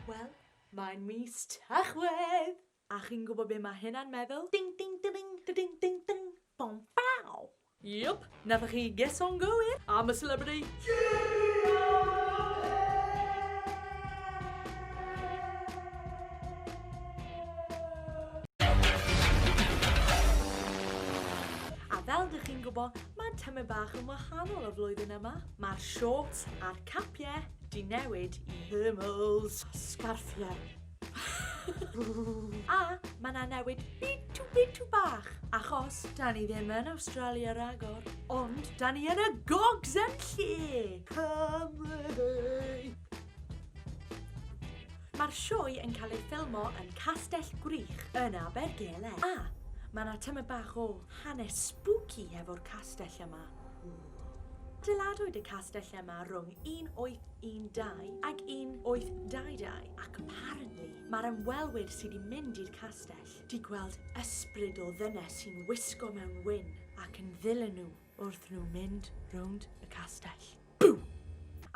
Wel, mae'n mis Tachwedd! A chi'n gwybod be mae hynna'n meddwl? Ding ding da ding da ding ding ding bom pow! Yup, nathoch chi geso'n gywir am y celebrity A fel dych chi'n gwybod, mae tymor bach yn wahanol y flwyddyn yma. Mae'r shorts a'r capiau di newid i thermals a sgarffiau. a mae na newid bitw bitw bach, achos da ni ddim yn Awstralia ragor, ond da ni yn y gogs yn lle! Cymru! Mae'r sioe yn cael ei ffilmo yn Castell Gwrych yn Abergele. A, mae 'na tymed bach o hanes spooky hefo'r castell yma. Dyladwyd y castell yma rhwng 1812 ag 1822 ac apparently mae'r ymwelwyr sydd wedi mynd i'r castell 'di gweld ysbryd o ddynes sy'n wisgo mewn wyn ac yn ddilyn nhw wrth nhw mynd rownd y castell. Bŵ!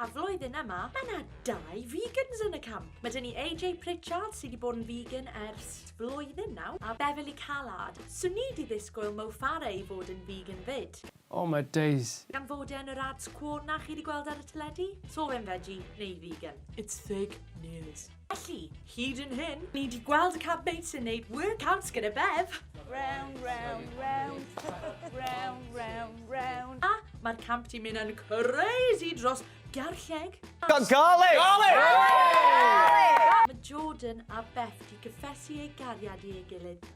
A flwyddyn yma, mae yna dau vegans yn y camp. Mae dyn ni AJ Pritchard sydd wedi bod yn vegan ers flwyddyn nawr a Beverly Callard. So ni di ddisgwyl Mo Farah i fod yn vegan fyd. Oh my days! Gan fod e yn yr ads cwo 'na chi 'di gweld ar y teledu? So fe'n veggie neu vegan? It's fake news. Felly, hyd yn hyn, ni 'di gweld y campmate sy'n neud workouts gyda Bev. Round, round, round. Round, round, round. A mae'r camp 'di mynd yn crazy dros garlleg. Got garlic! Garlic! Mae Jordan a Beth 'di cyffesu eu gariad i ei gilydd.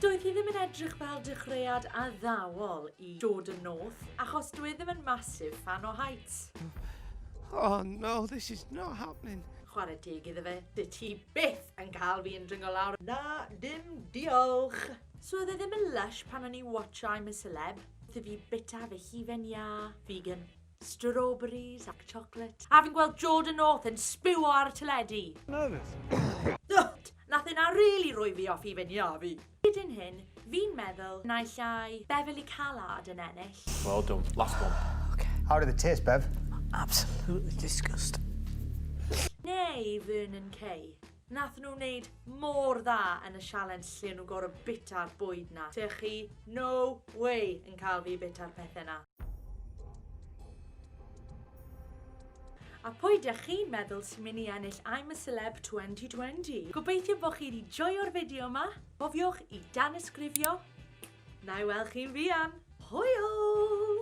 Doedd hi ddim yn edrych fel dechreuad addawol i dod yn north, achos dwi ddim yn massive fan o heights. Oh no, this is not happening. Chwarae teg iddo fe, dy ti byth yn cael fi yn dringo lawr. Na, dim diolch. So oedd e ddim yn lush pan o'n i watch I'm a Celeb, wrth i fi bita fy hufen iâ, vegan. Strawberries ac chocolate. A fi'n gweld Jordan North yn sbiwo ar y teledu. Nervous. Dwt! Nath hynna rili rhoi fi off i fy nhia fi. Hyd yn hyn, fi'n meddwl naill ai Beverley Callard yn ennill. Well done. Last one. Okay. How did it taste, Bev? Absolutely disgusting. Neu Vernon Kay. Nathon nhw wneud mor dda yn y sialens lle o'n nhw gor'o' bita'r bwyd 'na. Dych chi no way yn cael fi i bita'r pethe 'na. A pwy dych chi'n meddwl sy'n mynd i ennill I'm a Celeb 2020? Gobeithio bo' chi 'di joio'r fideo 'ma. Cofiwch i danysgrifio. Na'i weld chi'n fuan. Hwyl!